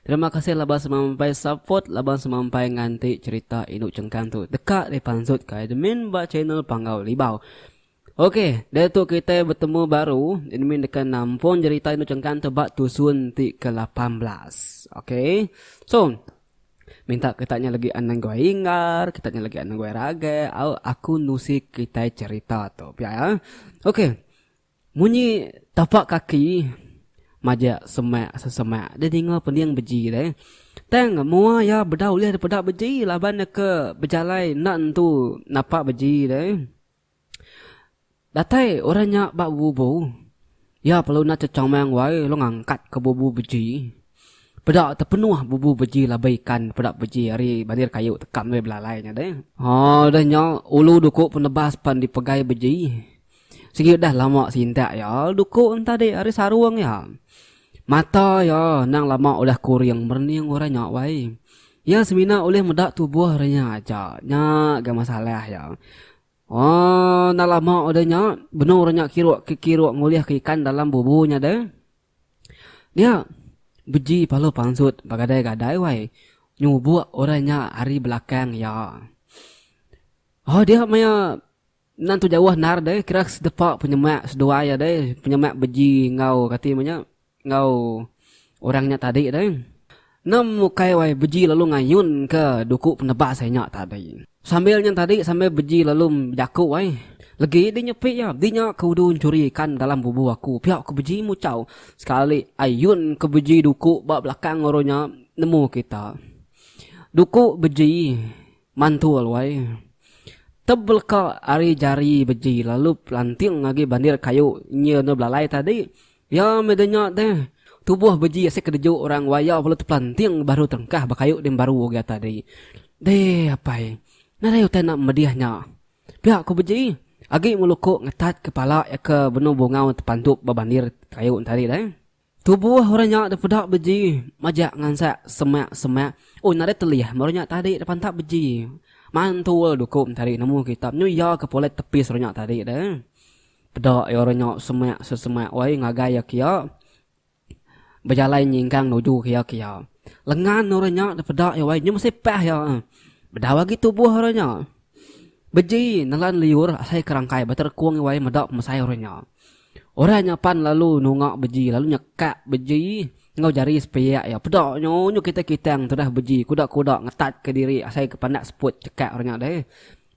Terima kasih laban semampai support laban semampai nganti cerita indu chengkang tu deka dipansut ke admin ba channel Panggau Libau. Ok, diatu kitai betemu baru, admin deka nampun jerita indu chengkang tu ba tusun ti ke lapan belas. Ok. So, minta kita nya lagi anang guai inggar, kita nya lagi anang guai ragai, au aku nusi kitai cerita tu. Pia ya. Ok. Munyi tapak kaki majak semak sesemak dia ninga pening beji deh. Tang mua ya beda ulih daripada beji laban dia ke bejalai enda nentu napa beji deh. Datai orang nya ba bubu ya perlu enda chechomang wai lalu ngangkat ke bubu beji. Peda tepenuh bubu beji laban ikan peda beji ari bandir kayu tekam deh belalai nya deh. Haa udah nya ulu duku penebas pan dipegai beji. Sigi udah lama sintak iya duku entadi ari sarung iya. Mata iya endang lama udah kuring merening orang nya wai. Iya semina ulih meda tubuh orang nya aja. Nya ga masalah iya. Aaa endang lama udah nya benung orang nya kiruk ke kiruk ngulihka ikan dalam bubu nya deh. Dia beji palu pansut begadai-gadai wai nyubuk orang nya ari belakang iya. Aaa dia maya. Endang tu jauh endar deh kira sedepa penyemak seduai iya deh penyemak beji enggau kati nama nya enggau orang nya tadi deh. Endang ukai wai beji lalu ngayunka duku penebas iya nya tadi. Sambil nya tadi sambil beji lalu bejaku ai Legi dih nyepi iya di nya ke udu nchuri ikan dalam bubu aku pia ku beji muchau sekali ayun ke beji duku ba belakang oro nya nemu kita. Duku beji Mantul wai. Tebeleka ari jari beji lalu pelanting agi bandir kayu nya enda belalai tadi. Ya meh de nya deh. Tubuh beji asai kedeju orang waya bela tepelanting baru terengkah ba kayu din baru agi tadi. Deh apai. Nadai utai enda medih nya. Pia ku beji agi ngeluku ngetat kepala iya ke benung bungau tepantup ba bandir kayu tadi deh. Tubuh orang nya dipeda beji majak ngansak semak-semak. Oh nadai telih meh orang nya tadi dipantap beji. Mantul dukup tadi nemu kitab nyu iya ke polet tepis orang nya tadi deh. Peda iya orang nya semak sesemak wai ngagai iya kiya bejalai nyingkang nuju ke iya kiya. Lengan orang nya dipeda iya wai nyu mesipah iya. Bedau agi tubuh orang nya. Beji nelan liur asai ke rangkai beterekung iwai meda pemesai orang nya. Orang nya pan lalu nunga beji lalu nyekak beji enggau jari sepiak iya. Peda nyu nyu kitai kitang tudah beji kuda kuda ngetat ke diri asai ke pandak seput cekak orang nya deh.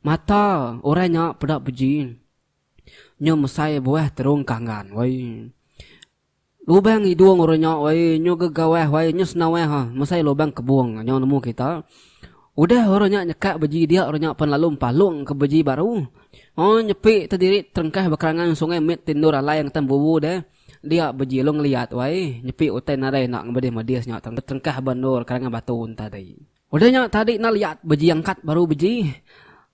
Mata orang nya peda beji nyu mesai buah terung kanggan woi. Lubang hidung orang nya wai nyu gegawah wai nyu senawah ha mesai lubang kebung nyau nemu kita. Udah orang nya nyekak beji dia orang nya pan lalu empalung ke beji baru. O nyepi te diri terengkah ba kerangan sungai mit ti endur alai ngetan bubu deh. Dia beji lu ngeliat wai nyepi utai nadai enda ngemedis-medis nya terengkah ba endur kerangan batu enta deh. Udah nya tadi enda liat beji angkat baru beji.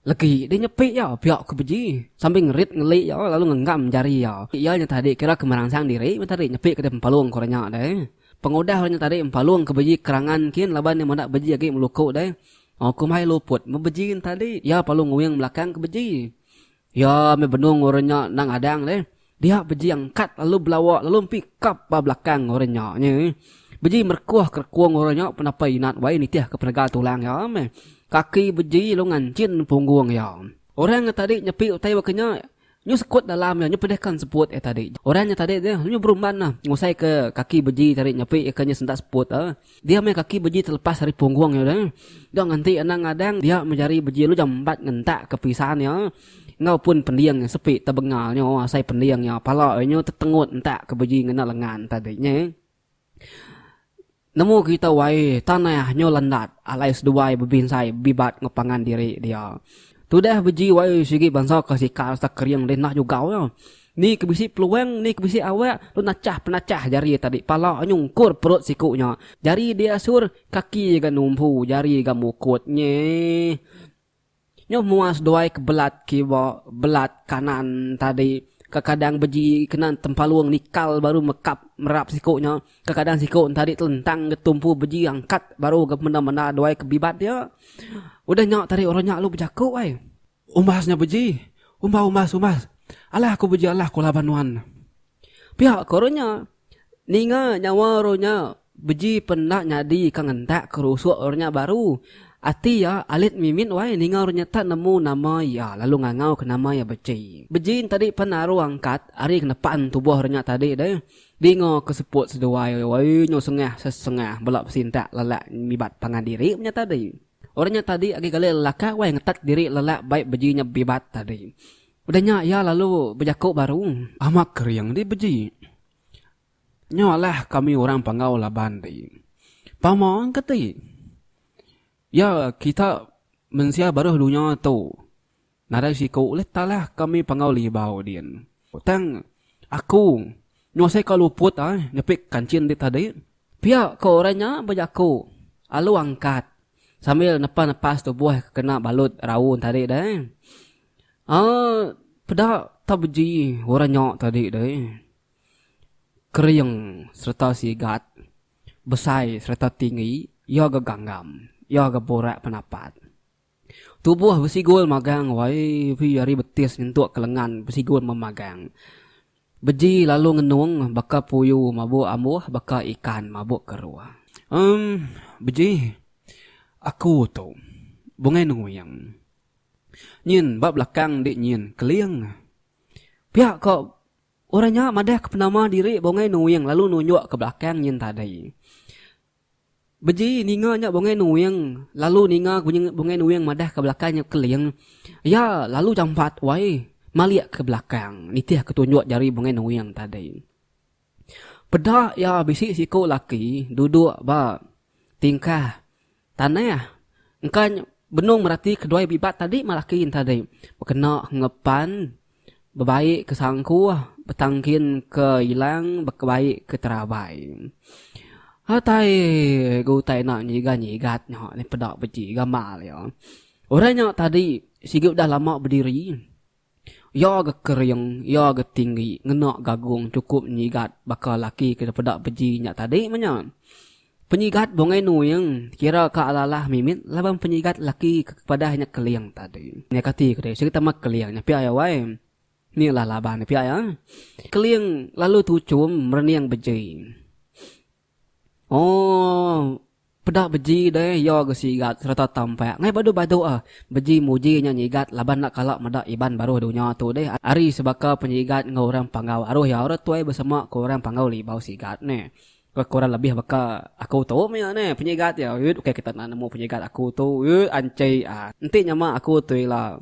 Legi deh nyepi iya pia ke beji sambil ngerit ngeli iya lalu ngenggam jari iya. Iya nya tadi kira ke meransang diri meh tadi nyepi ke deh empalung ke orang nya deh. Pengudah orang nya tadi empalung ke beji kerangan kin laban iya meda beji agi meluku deh. Oku meh ai luput meh beji nya tadi iya palung nguing belakang ke beji. Iya meh benung orang nya endang adang deh. Dia bejing kat lalu belawa lalu empi kap ba belakang orang nya nyi. Beji merekuh kerekung orang nya penapa inat wai nitih ke penaga tulang iya meh. Kaki beji lalu nganchin punggung iya. Orang nya tadi nyepi utai baka nya nyu sekut dalam iya nyu pedihka seput iya tadi. Orang nya tadi nyu berumban ngusai ke kaki beji tadi nyepi ika nya sentak seput. Dia meh kaki beji telepas ari punggung iya deh. Dok nganti anang ngadang dia meh jari beji lu jambat ngentak ke pisan iya enggau pun pending iya sepi tebengal nyo asai pending iya pala iya nyo tetengut entak ke beji ngena lengan tadi nye. Nemu kita wai tanah nyo landat alai seduai bebinsai bibat enggau pangan diri dia. Tudah beji wai sigi bansa kesikal serta kering deh nah jugau iya. Ni ke bisi peluang, ni ke bisi awak, tu nachah penachah jari iya tadi, pala nyungkur perut siku nya, jari diasur, kaki ga numbu, jari ga mukut. Nyeh. Nyuh mua seduai ke belat kiwa, belat kanan tadi, kekadang beji kena tempalung nikal baru mekap merap siku nya, kekadang siku ntadi telentang ga tumpu beji angkat baru ga menda-menda duai ke bibat iya. Udah nya tadi orang nya lalu bejaku ai. Umbas nya beji. Umba umbas umbas. Alah aku beji alah aku laban nuan. Pia ko ru nya. Ninga nyawa ru nya beji pen enda nyadi ka ngentak ke rusuk ru nya baru. Ati iya alit mimit wai ninga ru nya tak nemu nama iya lalu ngangau ke nama iya beji. Beji entadi pen aru angkat ari kenepan tubuh ru nya tadi deh. Dinga ke seput seduai wai nyu sengah sesengah bela besintak lelak ngibat pangan diri menya tadi. Orang nya tadi agi gali lelaka wai ngetat diri lelak bai beji nya bibat tadi. Udah nya iya lalu bejaku baru. Amat kering di beji. Nya alah kami orang Panggau laban di. Pama ke ti? Ya kita mensia baruh dunya tu. Nadai siku ulih talah kami panggau libau din. Tang aku nyuasaika luput ai nyepi kanchin enti tadi. Pia ko orang nya bejaku alu angkat sambil nepa nepas tubuh ke kena balut raun tadi deh. Aa peda tau beji orang nya tadi deh. Kering sereta sigat, besai sereta tinggi, iya ga ganggam, iya ga burak penapat. Tubuh besigul magang yv ari betis nyentuk ke lengan besigul memagang. Beji lalu ngenung baka puyu mabuk ambuh baka ikan mabuk keruh. Em beji aku tu bungai nenguyang. Nyin ba belakang ende nyin keling. Pia ko orang nya madah ke penama diri bungai nenguyang lalu nunjuk ke belakang nyin tadi. Beji ninga nya Bungai Nuing lalu ninga Bungai Nuing madah ke belakang nya Keling. Iya lalu jampat wai malik ke belakang nitih ke tunjuk jari Bungai Nuing tadi. Peda iya bisi siko laki duduk ba tingkah tanah engka benung merati keduai bibat tadi melaki nya tadi bekena enggau pan. Bebaik ke sangkuh, betangkin ke ilang, bekebaik ke terabai. Atai ga utai enda nyigat-nyigat nya ni peda beti gamal iya. Orang nya tadi sigi udah lama bediri. Iya ga kering, iya ga tinggi ngena gagung chukup nyigat baka laki ke peda beji nya tadi meh nya. Penyigat Bongai Nuing kira ka alah-alah mimit laban penyigat laki ke kepadah nya Keling tadi. Nya kati ke deh serita meh Keling nya pia wai. Ni lah laban nya pia iya. Keling lalu tuchum merening beji. Ooh peda beji deh iya ga sigat sereta tampak ngai badu-badu ah. Beji muji nya nyigat laban enda kala meda Iban baruh dunya tu deh ari sebaka penyigat enggau orang panggau aruh iya ora tuai besema ke orang panggau libau sigat neh. Ke kurang lebih baka aku tu mia neh penyigat iya uiut ukai kita na nemu penyigat aku tu uiut anchai a enti nyama aku tu ila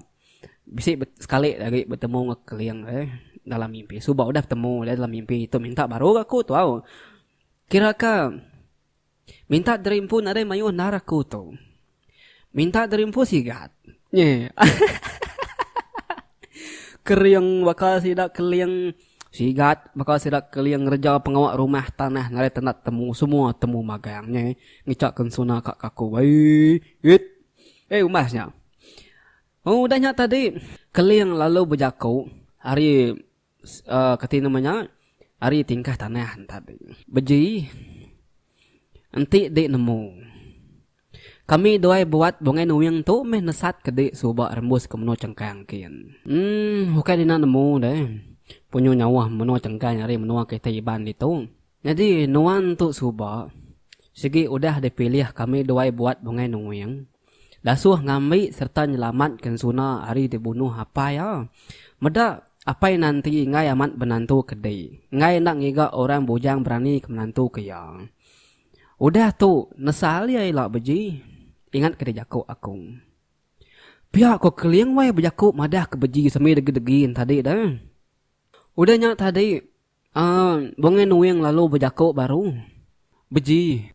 bisi sekali agi betemu enggau keling eh dalam mimpi suba udah betemu nya dalam mimpi tu minta baru ga aku tau kira ka minta derimpun nadai mayuh endar aku tu. Minta diri empu sigat. Nye. Kering baka sida keling sigat baka sida keling ngereja pengawa rumah tanah ngagai tanda temu semua temu magang nye ngichak kensuna ka kaku ai it eh umbas nya. Udah nya tadi keling lalu bejaku ari kati nama nya ari tingkah tanah tadi beji enti di nemu kami duai buat bungai nuing tu meh nesat ke di suba rembus ke menua chengkang kin emm ukai dina nemu deh punyu nyawa menua chengkang ari menua kitai iban ditu nyadi nuan tu suba sigi udah dipilih kami duai buat bungai nuing. Dasuh ngambi sereta nyelamatka Ensuna ari dibunuh apai iya. Meda, apai Nanti enggai amat benantu ke di, enggai enda ngiga orang bujang beranika menantuka iya. Udah tu, nesal iya ila beji, ingatka dijaku aku. Pia ko Keling wai bejaku madahka beji semina degi-degi enti tadi deh. Udah nya tadi. Aaa bungai nuing lalu bejako baru beji.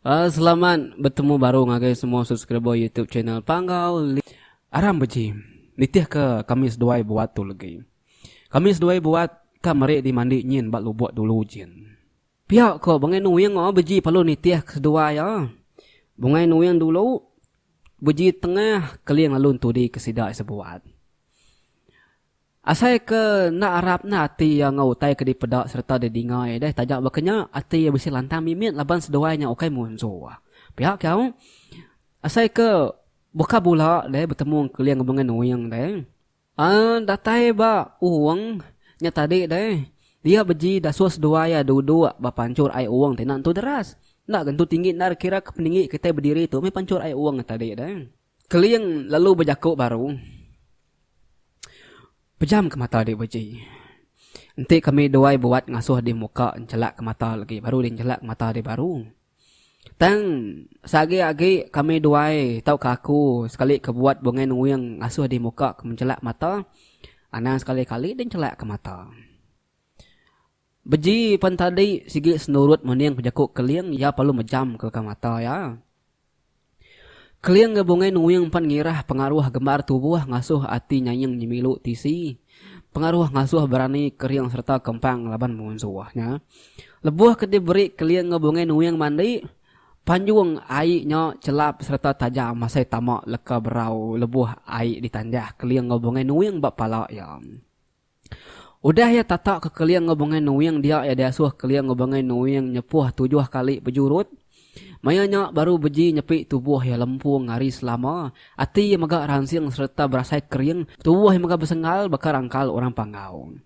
Aaa selamat betemu baru ngagai semua subscriber YouTube channel Panggau List. Aram beji nitih ke kami seduai buat tu legi. Kami seduai buat ka meri dimandi nyin ba lubok dulu jin. Pia ko bungai nuing oh beji perlu nitih ke seduai ah. Bungai nuing dulu beji tengah keling lalu entudi ke sida isa buat. Asai ke enda arap enda ati iya enggau utai ke dipeda sereta didinga iya deh taja baka nya ati iya bisi lantang mimit laban seduai nya ukai munso. Pia ke au asai ke baka bula deh betemu Engkeling bengan Uing deh uhh datai ba Uong nya tadi deh dia beji dasuh seduai iya duduk ba panchur ai Uong ti enda entu deras enda ga entu tinggi enda kira ke peninggi kitai bediri tu meh panchur ai Uong nya tadi deh. Keling lalu bejaku baru, Pejamka mata dek beji. Enti kami duai buat ngasuh di muka enchelakka mata legi baru deh enchelakka mata deh baru. Tang seagi agi kami duai tauka aku sekali ke buat bungai nuing ngasuh di muka ke menchelak mata anang sekali kali deh enchelakka mata. Beji pen tadi sigi senurut mening pejaku Keling iya perlu mejam ke leka mata iya. Keling enggau Bungai Nuing pen ngirah pengaruh gembar tubuh ngasuh ati nyaing nyemilu tisi, pengaruh ngasuh berani kering sereta kempang laban munsuh nya. Lebuh ke diberi Keling enggau Bungai Nuing mandi, panjung ai nya chelap sereta tajam asai tama leka berau lebuh ai ditanjah Keling enggau Bungai Nuing ba pala iya. Udah iya tatak ke keling enggau bengai nuing dia iya diasuh keling enggau bengai nuing nyepuh tujuh kali bejurut. Maya nya baru beji nyepi tubuh iya lempung ari selama. Ati iya mega ransing sereta berasai kering, tubuh iya mega besenggal baka rangkal orang panggau.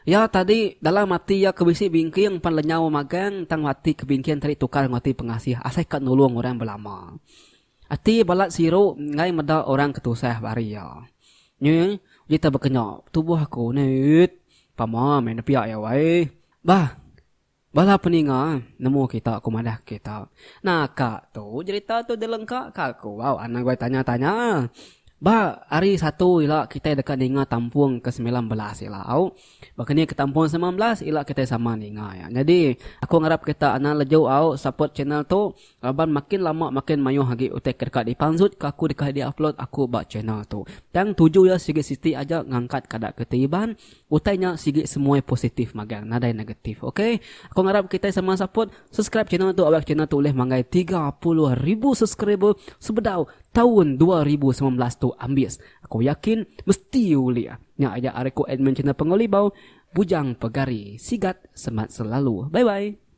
Iya tadi dalam ati iya ke bisi bingking pan lenyau magang tang ati ke bingking tadi tukar enggau ati pengasih asai ka nulung orang belama. Ati balat siru enggai meda orang ke tusah bari iya. Nyi uji tau bekenya tubuh aku ne uiit pama meh nepiak iya wai. Bah bala peninga nemu kita ku madah kita. Naka tu jerita tu dilengka ka aku bau anang goi tanya tanya. Ba hari satu ila kitai deka ninga tampung ke semilan belas ila au. Ba keni ke tampung ke semilan belas ila kitai sama ninga iya. Nyadi aku ngarap kita anang leju au support channel tu. Laban makin lama makin mayuh agi utai ke deka dipanzut ke aku deka diupload aku ba channel tu. Tang tuju iya sigi siti aja ngangkat kada ke ti iban, utai nya sigi semuai positif magang nadai negatif ok. Aku ngarap kitai sama support, subscribe channel tu awak channel tu ulih manggai tiga puluh ribu subscriber sebedau taun dua ribu semilan belas tu ambis. Aku yakin mesti ulih. Nya aja ari ku admin channel Pengelibau, Bujang Pegari. Sigat semat selalu. Bye bye.